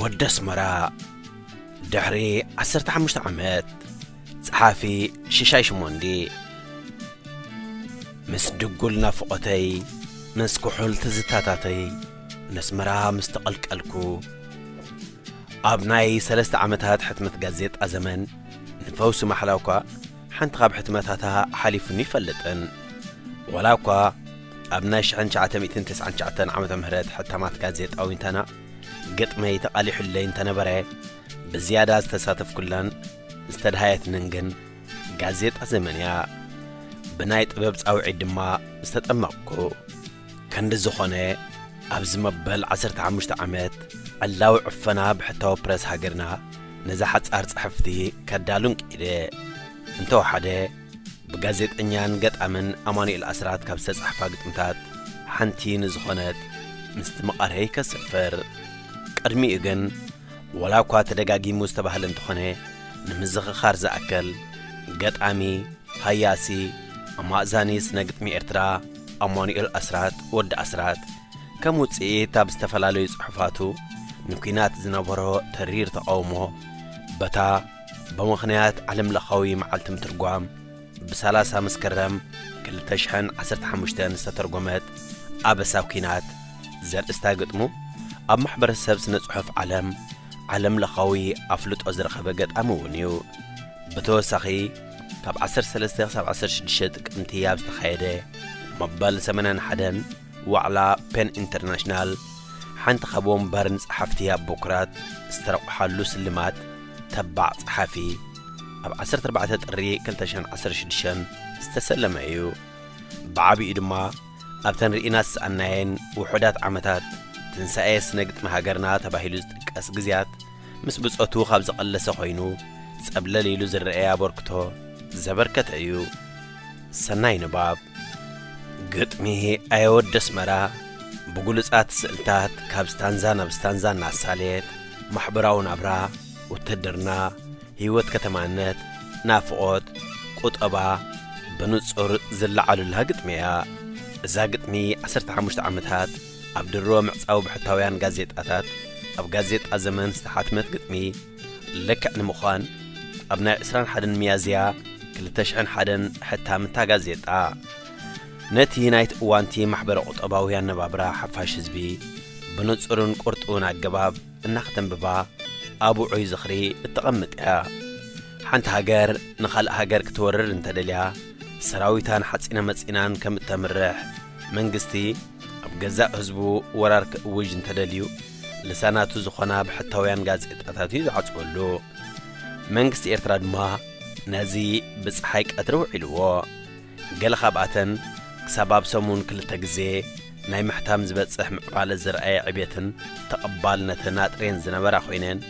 ወዲ ኣስመራ ድሕሪ ዓሰርተ ሓሙሽተ ዓመት ጸሓፊ ሽሻይ ሽሞንዲ ምስ ድጉል ናፍቖተይ ምስ ኩሑል ትዝታታተይ ነስመራ ምስ ተቐልቀልኩ ኣብ ናይ ሰለስተ ዓመታት ሕትመት ጋዜጣ ዘመን ንፈውሲ ማሕላ እኳ ሓንቲ ካብ ሕትመታታ ሓሊፉኒ ይፈልጥን ወላ እኳ ኣብ ናይ ሽሕን ትሽዓተ ሚእትን ትስዓን ትሽዓተን ዓመተ ምህረት ሕታማት ጋዜጣ ዊንታና ግጥመይ ተቓሊሑለይ እንተነበረ፣ ብዝያዳ ዝተሳተፍኩላን ዝተድሃየትንን ግን ጋዜጣ ዘመን እያ። ብናይ ጥበብ ጻውዒት ድማ ዝተጠመቕኩ። ከንዲ ዝኾነ፣ ኣብዚ መበል ዓሰርተ ሓሙሽተ ዓመት፣ ዕላዊ ዕፈና ብሕታዊ ፕረስ ሃገርና ነዛ ሓጻር ጽሕፍቲ ከዳሉን ክኢለ። እንተወሓደ፣ ብጋዜጠኛን ገጣምን ኣማኑኤል ኣስራት ካብ ዝተጻሕፋ ግጥምታት ሓንቲ ንዝኾነት ምስቲ መቓርየይ ከስፍር ቅድሚኡ ግን ወላ እኳ ተደጋጊሙ ዝተባህለ እንተኾነ ንምዝኽኻር ዝኣከል ገጣሚ ሃያሲ ኣማእዛኒ ስነ ግጥሚ ኤርትራ ኣማኑኤል ኣስራት ወዲ ኣስራት ከም ውጽኢት ኣብ ዝተፈላለዩ ጽሑፋቱ ንኲናት ዝነበሮ ተሪር ተቓውሞ በታ ብምኽንያት ዓለምለኻዊ መዓልቲ ምትርጓም ብ ሰላሳ መስከረም ክልተ ሽሕን ዓሰርተ ሓሙሽተን ዝተተርጎመት ኣበሳ ኲናት ዘርእስታ ግጥሙ ኣብ ማሕበረሰብ ስነ ጽሑፍ ዓለም ዓለምለኻዊ ኣፍልጦ ዝረኸበ ገጣሚ እውን እዩ። ብተወሳኺ ካብ ዓሰርተ ሰለስተ ክሳብ ዓሰርተ ሽዱሽተ ጥቅምቲ ኣብ ዝተኻየደ መበል ሰማንያን ሓደን ዋዕላ ፐን ኢንተርናሽናል ሓንቲ ካብ ወንበርን ጸሓፍቲ ኣብ ቦክራት ዝተረቑሓሉ ስልማት ተባዕ ጸሓፊ ኣብ 14 ጥሪ 2016 ዝተሰለመ እዩ። ብዓቢኡ ድማ ኣብተን ርኢና ዝሰኣናየን ውሑዳት ዓመታት ትንሳኤ ስነ ግጥሚ ሃገርና ተባሂሉ ዝጥቀስ ግዜያት ምስ ብጾቱ ካብ ዝቐለሰ ኮይኑ ጸብለል ኢሉ ዝረኤ ኣበርክቶ ዘበርከተ እዩ። ሰናይ ንባብ። ግጥሚ ኣየወዲ ኣስመራ ብግሉጻት ስእልታት ካብ ስታንዛ ናብ ስታንዛ እናሳለየት፣ ማሕበራዊ ናብራ፣ ውትህድርና፣ ህይወት ከተማነት፣ ናፍቖት፣ ቁጠባ ብንጹር ዝለዓሉላ ግጥሚ እያ። እዛ ግጥሚ ዓሰርተ ሓሙሽተ ዓመታት ኣብ ድሮ ምዕጻው ብሕታውያን ጋዜጣታት፣ ኣብ ጋዜጣ ዘመን ዝተሓትመት ግጥሚ፣ ልክዕ ንምዃን ኣብ ናይ ዕስራን ሓደን ሚያዝያ ክልተ ሽሕን ሓደን ሕታም እታ ጋዜጣ፣ ነቲ ናይቲ እዋንቲ ማሕበረ-ቁጠባዊ ኣነባብራ ሓፋሽ ህዝቢ ብንጹርን ቁርጡውን ኣገባብ እና ከተንብባ ኣብ ውዑይ ዝኽሪ እተቐምጥ እያ። ሓንቲ ሃገር ንኻልእ ሃገር ክትወርር እንተደልያ ሰራዊታን ሓጺነ መጺናን ከም እተምርሕ፣ መንግስቲ ኣብ ገዛእ ህዝቡ ወራር ክእውጅ እንተደልዩ፣ ልሳናቱ ዝኾና ብሕታውያን ጋዜጣታት እዩ ዝዓጽወሉ። መንግስቲ ኤርትራ ድማ ነዚ ብጸሓይ ቀትሪ ውዒልዎ። ገለ ካብኣተን ክሳብ ኣብ ሰሙን ክልተ ግዜ ናይ ምሕታም ዝበጽሕ ምዕባለ ዘርኣየ ዕብየትን ተቐባልነትን ኣጥርየን ዝነበራ ኮይነን፣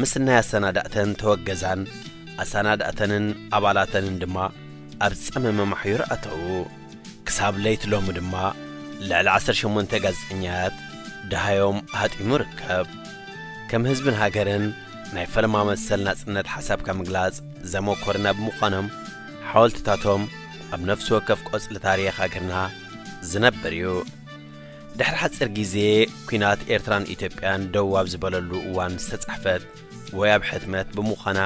ምስናይ ኣሰናዳእተን ተወገዛን ኣሰናዳእተንን ኣባላተንን ድማ ኣብ ጸመመ ማሕዩር ኣተዉ። ክሳብ ለይቲ ሎሚ ድማ ልዕሊ ዓሰርተ ሸሞንተ ጋዜጠኛታት ደሃዮም ሃጢሙ ይርከብ። ከም ህዝብን ሃገርን ናይ ፈለማ መሰል ናጽነት ሓሳብካ ምግላጽ ዘመኮርና ብምዃኖም ሓወልትታቶም ኣብ ነፍሲ ወከፍ ቆጽሊ ታሪኽ ሃገርና ዝነብር እዩ። ድሕሪ ሓጺር ግዜ ኲናት ኤርትራን ኢትዮጵያን ደው ኣብ ዝበለሉ እዋን ዝተጻሕፈት ወይ ኣብ ሕትመት ብምዃና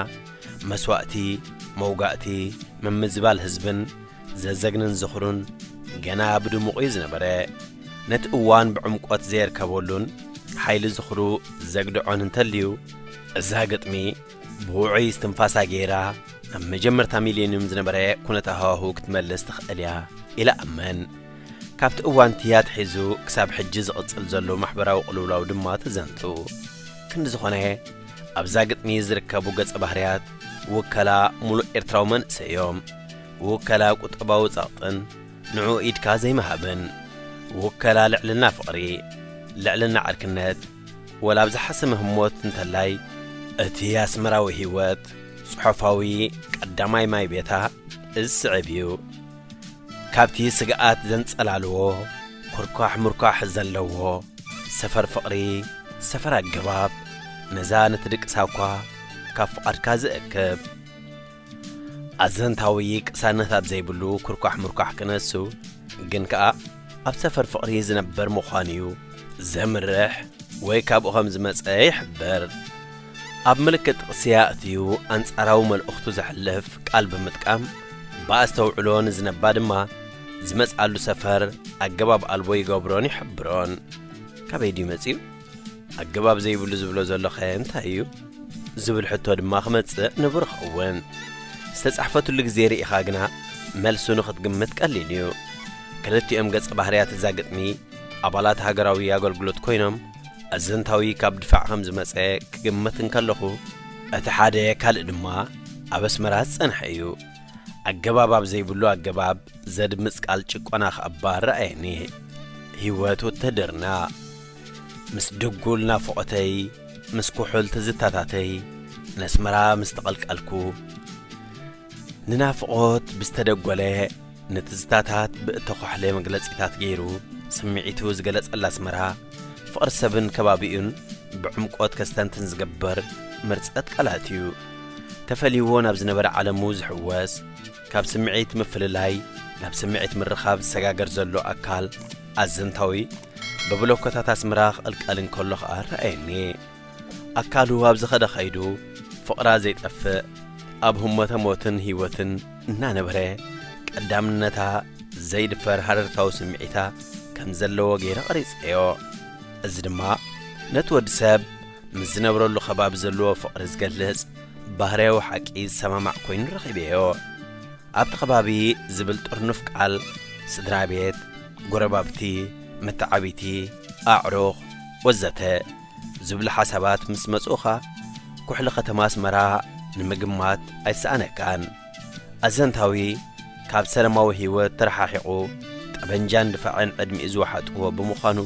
መስዋእቲ፣ መውጋእቲ፣ ምምዝባል ህዝብን ዘዘግንን ዝኽሩን ገና ብድሙቑ እዩ ዝነበረ ነቲ እዋን ብዕምቈት ዘየርከበሉን ሓይሊ ዝኽሩ ዘግድዖን እንተልዩ እዛ ግጥሚ ብውዑይ እስትንፋሳ ገይራ ናብ መጀመርታ ሚሌንዩም ዝነበረ ኩነት ሃዋሁ ክትመልስ ትኽእል እያ ኢለ ኣመን ካብቲ እዋን እቲ ኣትሒዙ ክሳብ ሕጂ ዝቕጽል ዘሎ ማሕበራዊ ቅልውላው ድማ ተዘንቱ ክንዲ ዝኾነ ኣብዛ ግጥሚ ዝርከቡ ገጸ ባህርያት ውከላ ሙሉእ ኤርትራዊ መንእሰይ እዮም ውከላ ቁጠባዊ ጸቕጥን ንዑ ኢድካ ዘይምሃብን፣ ውከላ ልዕልና ፍቕሪ፣ ልዕልና ዕርክነት፣ ወላ ኣብ ዝሓሰመ ህሞት እንተላይ እቲ ኣስመራዊ ህይወት ጽሑፋዊ ቀዳማይ ማይ ቤታ እዚ ስዕብ እዩ። ካብቲ ስግኣት ዘንጸላልዎ ኩርኳሕ ሙርኳሕ ዘለዎ ሰፈር ፍቕሪ ሰፈር ኣገባብ መዛንት ድቅሳኳ ካብ ፍቓድካ ዝእክብ፣ ኣዘንታዊ ቅሳነት ኣብ ዘይብሉ ኩርኳሕ ምርኳሕ ክነሱ ግን ከኣ ኣብ ሰፈር ፍቕሪ ዝነበር ምዃኑ'ዩ ዘምርሕ ወይ ካብኡ ከም ዝመጸ ይሕብር። ኣብ ምልክት ጥቕሲ ኣእትዩ ኣንጻራዊ መልእኽቱ ዘሕልፍ ቃል ብምጥቃም ብኣስተውዕሎ ንዝነባ ድማ ዝመጽኣሉ ሰፈር ኣገባብ ኣልቦ ይገብሮን ይሕብሮን። ካበይ ድዩ መጺኡ? ኣገባብ ዘይብሉ ዝብሎ ዘሎኸ እንታይ እዩ ዝብል ሕቶ ድማ ክመጽእ ንቡር ይኸውን ዝተጻሕፈትሉ ግዜ ርኢኻ ግና መልሱ ንኽትግምት ቀሊል እዩ ክልቲኦም ገጸ ባህርያት እዛ ግጥሚ ኣባላት ሃገራዊ ኣገልግሎት ኮይኖም ኣዘንታዊ ካብ ድፋዕ ከም ዝመጸ ክግምት እንከለኹ እቲ ሓደ ካልእ ድማ ኣብ ኣስመራ ዝጸንሐ እዩ ኣገባብ ኣብ ዘይብሉ ኣገባብ ዘድምጽ ቃል ጭቆና ክኣባ ረኣየኒ ህይወት ውትህድርና ምስ ድጉል ናፍቖተይ ምስ ኩሑል ትዝታታተይ ነስመራ ምስ ተቐልቀልኩ ንናፍቖት ብዝተደጎለ ንትዝታታት ብእተዃሕለ መግለጺታት ገይሩ ስምዒቱ ዝገለጸላ ኣስመራ ፍቕሪ ሰብን ከባቢኡን ብዕምቆት ከስተንትን ዝገብር ምርጸት ቃላት'ዩ ተፈልይዎ ናብ ዝነበረ ዓለሙ ዝሕወስ ካብ ስምዒት ምፍልላይ ናብ ስምዒት ምርኻብ ዝሰጋገር ዘሎ ኣካል ኣዘንታዊ ብብሎኮታት ኣስመራ ክቕልቀል እንከሎ ኸኣ ረኣየኒ። ኣካሉ ኣብ ዝኸደ ኸይዱ ፍቕራ ዘይጠፍእ ኣብ ህሞተ ሞትን ህይወትን እናነበረ ቀዳምነታ ዘይድፈር ሃረርታዊ ስምዒታ ከም ዘለዎ ገይረ ቐሪጸዮ። እዚ ድማ ነቲ ወዲ ሰብ ምስ ዝነብረሉ ከባቢ ዘለዎ ፍቕሪ ዝገልጽ ባህርያዊ ሓቂ ዝሰማማዕ ኮይኑ ረኺበዮ። ኣብቲ ከባቢ ዝብል ጥርኑፍ ቃል ስድራ ቤት፣ ጎረባብቲ፣ መተዓብይቲ፣ ኣዕሩኽ ወዘተ ዝብሉ ሓሳባት ምስ መጽኡኻ ኩሕሊ ከተማ ኣስመራ ንምግማት ኣይሰኣነካን። ኣዘንታዊ ካብ ሰለማዊ ህይወት ተረሓሒቑ ጠበንጃን ድፋዕን ዕድሚኡ ዝወሓጥዎ ብምዃኑ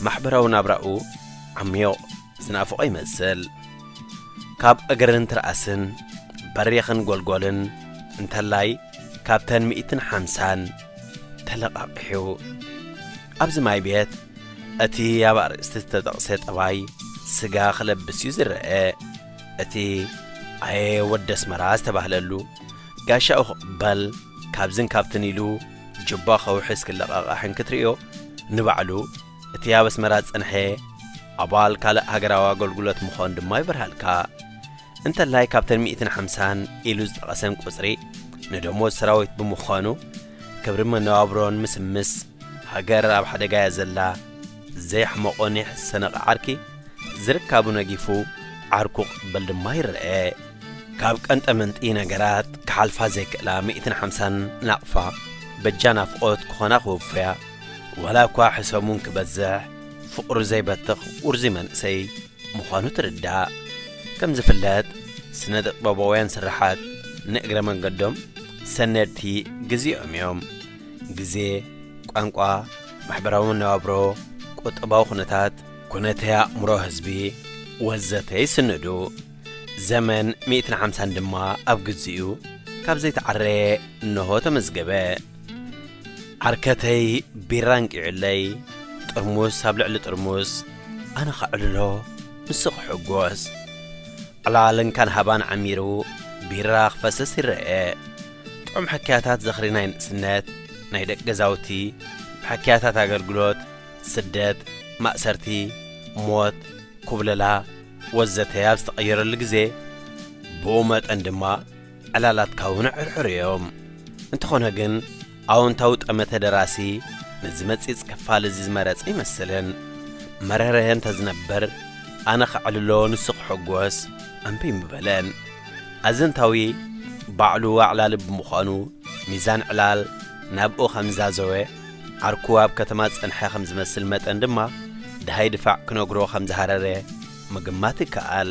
ማሕበራዊ ናብራኡ ዓሚዩቕ ዝናፍቖ ይመስል ካብ እግርን ትርኣስን በሪኽን ጎልጎልን እንተላይ ካብተን ሚእትን ሓምሳን ተለቓቒሑ ኣብዚ ማይ ቤት እቲ ኣብ ኣርእስቲ ዝተጠቕሰ ጠባይ ስጋ ክለብስ እዩ ዝረአ እቲ ኣየ ወዲ ኣስመራ ዝተባህለሉ ጋሻኡ ክቕበል ካብዝን ካብትን ኢሉ ጅባ ከውሕስ ክለቓቓሕን ክትርእዮ ንባዕሉ እቲ ኣብ ኣስመራ ዝጸንሐ ኣባል ካልእ ሃገራዊ ኣገልግሎት ምኾን ድማ ይበርሃልካ። እንተላይ ካብተን ሚእትን ሓምሳን ኢሉ ዝጠቐሰን ቁጽሪ ንደሞዝ ሰራዊት ብምዃኑ ክብሪ መነባብሮ ንምስምስ ሃገር ኣብ ሓደጋ እያ ዘላ። ዘየሕመቖ ኒሕ ዝሰነቐ ዓርኪ ዝርካቡ ነጊፉ ዓርኩ ክቕበል ድማ ይረኣ። ካብ ቀንጠመንጢ ነገራት ክሓልፋ ዘይክእላ ሚእትን ሓምሳን ናቕፋ በጃ ናፍቖት ክኾና ክውፈያ ዋላ እኳ ሕሰሙን ክበዝሕ ፍቕሩ ዘይበትኽ ውርዙይ መንእሰይ ምዃኑ ትርዳእ። ከም ዝፍለጥ ስነ ጥበባውያን ስርሓት ንእግረ መንገዶም ሰነድቲ ግዜኦም እዮም። ግዜ፣ ቋንቋ፣ ማሕበራዊ መነባብሮ፣ ቁጠባዊ ኩነታት፣ ኩነተ ኣእምሮ ህዝቢ ወዘተ ይስንዱ። ዘመን ሚእትን ሓምሳን ድማ ኣብ ግዜኡ ካብ ዘይተዓረየ እነሆ ተመዝገበ። ዓርከተይ ቢራ ኣንቂዑለይ ጥርሙስ ኣብ ልዕሊ ጥርሙስ ኣነ ኸዕልሎ ንሱ ክሕጎስ ዕላል እንካን ሃባን ዓሚሩ ቢራ ክፈስስ ይረኤ ጥዑም ሕክያታት ዘኽሪ ናይ ንእስነት ናይ ደቂ ገዛውቲ ብሕክያታት ኣገልግሎት ስደት ማእሰርቲ ሞት ኩብለላ ወዘተ ኣብ ዝተቐየረሉ ግዜ ብኡ መጠን ድማ ዕላላትካ እውን ዕርዕር እዮም። እንተኾነ ግን ኣወንታዊ ጠመተ ደራሲ ነዚ መጺጽ ክፋል እዚ ዝመረጸ ኣይመስልን። መረረ እንተዝነብር ኣነ ከዕልሎ ንሱ ክሕጎስ እምቢ ምበለን። ኣዘንታዊ ባዕሉ ኣዕላሊ ብምዃኑ ሚዛን ዕላል ናብኡ ከምዝዛዘወ ዓርኩ ኣብ ከተማ ዝጸንሐ ከምዝመስል መጠን ድማ ድሃይ ድፋዕ ክነግሮ ከምዝሃረረ ምግማት ይከኣል።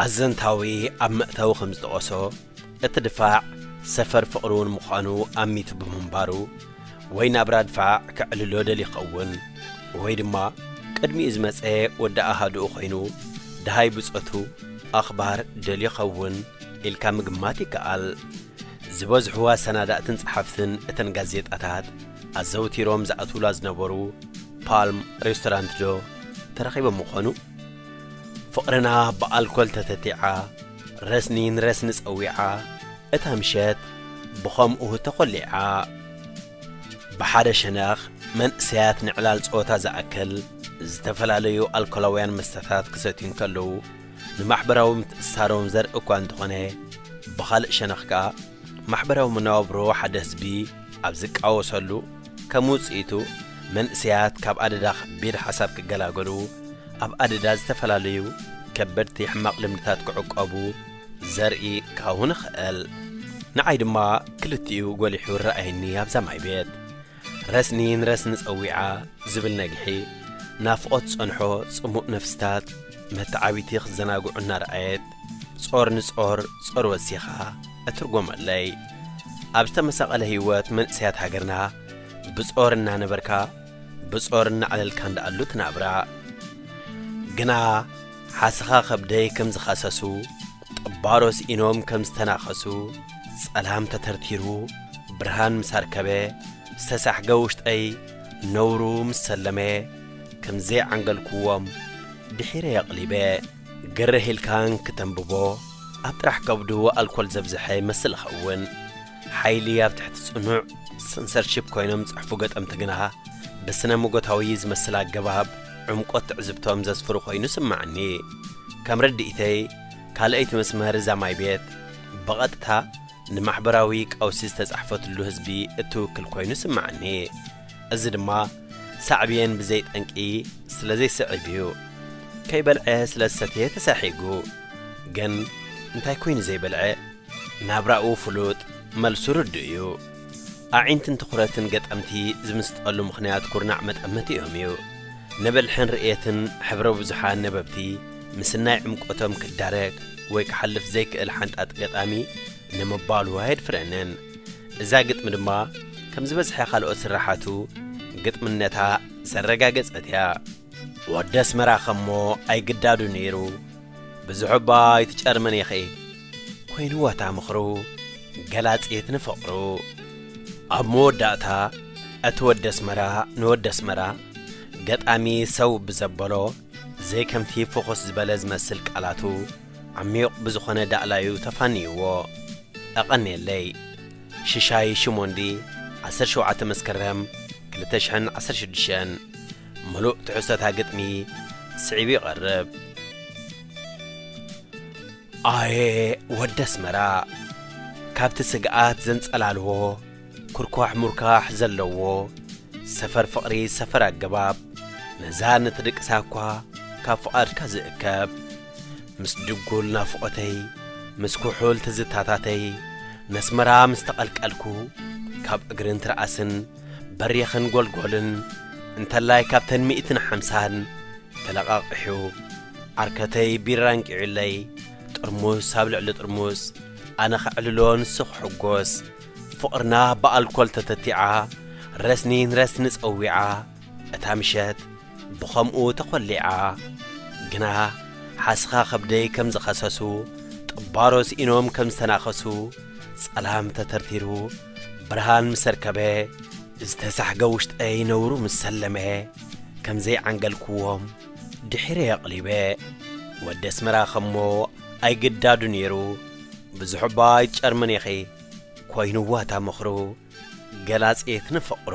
ኣዘንታዊ ኣብ መእተዊ ከም ዝጠቐሶ፣ እቲ ድፋዕ ሰፈር ፍቕሪ'ውን ምዃኑ ኣሚቱ ብምንባሩ፣ ወይ ናብራ ድፋዕ ከዕልሎ ደልዩ ይኸውን፣ ወይ ድማ ቅድሚኡ ዝመጸ ወዲ ኣሃዱኡ ኮይኑ፣ ደሃይ ብጾቱ፣ ኣኽባር፣ ደልዩ ይኸውን ኢልካ ምግማት ይከኣል። ዝበዝሑ ኣሰናዳእትን ጸሓፍትን እተን ጋዜጣታት ኣዘውቲሮም ዝኣትዉላ ዝነበሩ ፓልም ሬስቶራንት'ዶ ተረኺቦም ይኾኑ? ፍቕርና ብኣልኮል ተተቲዓ ረስኒ ንረስኒ ጸዊዓ እታ ምሸት ብኸምኡ ተኾሊዓ ብሓደ ሸነኽ መንእሰያት ንዕላል ጸወታ ዝኣክል ዝተፈላለዩ ኣልኮላውያን መስተታት ክሰትዩ እንከለዉ ንማሕበራዊ ምትእስሳሮም ዘርኢ እኳ እንተኾነ ብኻልእ ሸነኽ ከኣ ማሕበራዊ መነባብሮ ሓደ ህዝቢ ኣብ ዝቃወሰሉ፣ ከም ውጽኢቱ፣ መንእሰያት ካብ ኣደዳ ከቢድ ሓሳብ ክገላገሉ፣ ኣብ ኣደዳ ዝተፈላለዩ ከበድቲ ሕማቕ ልምድታት ክዕቆቡ ዘርኢ ካሁን እኽእል። ንዓይ ድማ ክልቲኡ ጎሊሑ ይረኣየኒ ኣብዛ ማይ ቤት። ረስኒ ንረስኒ ጸዊዓ ዝብል ነግሒ፣ ናፍቖት ዝጸንሖ ጽሙእ ነፍሲታት መተዓቢቲ ክዘናግዑ እናረኣየት፣ ጾር ንጾር ጾር ወሲኻ እትርጎመለይ ኣብ ዝተመሳቐለ ህይወት መንእሰያት ሃገርና ብጾር እናነበርካ ብጾር እናዕለልካ እንዳኣሉ ትናብራ ግና ሓስኻ ከብደይ ከም ዝኸሰሱ ጠባሮ ስኢኖም ከም ዝተናኸሱ ጸላም ተተርቲሩ ብርሃን ምስ ኣርከበ ዝተሳሕገ ውሽጠይ ነውሩ ምስ ሰለመ ከም ዘይዓንገልክዎም ድሒረ የቕሊበ ግርህ ኢልካ እንክተንብቦ ኣብ ጥራሕ ከብዱ ኣልኮል ዘብዝሐ ይመስል ይኸውን። ሓይሊ ኣብ ትሕቲ ጽኑዕ ሰንሰርሺፕ ኮይኖም ዝጽሕፉ ገጠምቲ ግና ብስነ ሞጎታዊ ዝመስል ኣገባብ ዕምቆት ትዕዝብቶም ዘስፍሩ ኮይኑ ይስመዓኒ። ከም ርድኢተይ ካልኣይቲ መስመር እዛ ማይ ቤት ብቐጥታ ንማሕበራዊ ቀውሲ ዝተጻሕፈትሉ ህዝቢ እትውክል ኮይኑ ይስመዓኒ። እዚ ድማ ሳዕብየን ብዘይ ጠንቂ ስለ ዘይስዕብ እዩ ከይበልዐ ስለ ዝሰትየ ተሳሒጉ ግን እንታይ ኮይኑ ዘይበልዐ ናብራኡ ፍሉጥ መልሱ ርዱእ እዩ ኣዒንትን ትኹረትን ገጠምቲ ዝምስጠሉ ምኽንያት ኩርናዕ መጠመቲኦም እዩ ንብልሕን ርእየትን ሕብረ ብዙሓን ነበብቲ ምስናይ ዕምቆቶም ክዳረግ ወይ ክሓልፍ ዘይክእል ሓንጣጢ ገጣሚ ንምባሉ ኣየድፍረንን። እዛ ግጥሚ ድማ ከም ዝበዝሐ ካልኦት ስርሓቱ ግጥምነታ ዘረጋገጸት እያ። ወዲ ኣስመራ ከሞ ኣይግዳዱ ነይሩ ብዙሕ እባ ኣይትጨርምን ኢኺ ኮይንዋ እታ ምኽሩ ገላጺት ንፍቕሩ። ኣብ መወዳእታ እቲ ወዲ ኣስመራ ንወዲ ኣስመራ ገጣሚ ሰው ብዘበሎ ዘይከምቲ ፍኹስ ዝበለ ዝመስል ቃላቱ፣ ዓሚዩቕ ብዝኾነ ዳእላዩ ተፋንዩዎ። ኣቐንየለይ። ሽሻይ ሽሞንዲ ዓሰርተ ሸውዓተ መስከረም ክልተ ሽሕን ዓሰርተ ሽዱሽተን ምሉእ ትሕዝቶ እታ ግጥሚ ስዒቡ ይቐርብ። ኣየ ወዲ ኣስመራ ካብቲ ስግኣት ዘንጸላልዎ ኩርኳሕ ሙርካሕ ዘለዎ ሰፈር ፍቕሪ ሰፈር ኣገባብ ነዛ ንትድቅሳ እኳ ካብ ፍቓድካ ዝእከብ ምስ ድጉል ናፍቖተይ ምስ ኩሑል ትዝታታተይ ነስመራ ምስ ተቐልቀልኩ ካብ እግርን ትርኣስን በሪኽን ጎልጎልን እንተላይ ካብተን ሚእትን ሓምሳን ተለቓቒሑ ዓርከተይ ቢራ ኣንቂዑለይ ጥርሙስ ኣብ ልዕሊ ጥርሙስ ኣነ ከዕልሎ ንሱ ክሕጎስ ፍቕርና ብኣልኮል ተተቲዓ ረስኒ ንረስኒ ጸዊዓ እታ ምሸት ብኸምኡ ተኾሊዓ። ግና ሓስኻ ከብደይ ከም ዝኸሰሱ፣ ጥባሮ ስኢኖም ከም ዝተናኸሱ፣ ጸላም ተተርቲሩ ብርሃን ምስ ኣርከበ፣ ዝተሳሕገ ውሽጠይ ነውሩ ምስ ሰለመ፣ ከም ዘይዓንገልኩዎም ድሒረይ ኣቕሊበ። ወዲ ኣስመራ ከሞ ኣይግዳዱ ነይሩ፣ ብዙሕ'ባ ኣይትጨርምን'ኺ፣ ኮይኑዋ እታ ምኽሩ፣ ገላጺት ንፍቕሩ።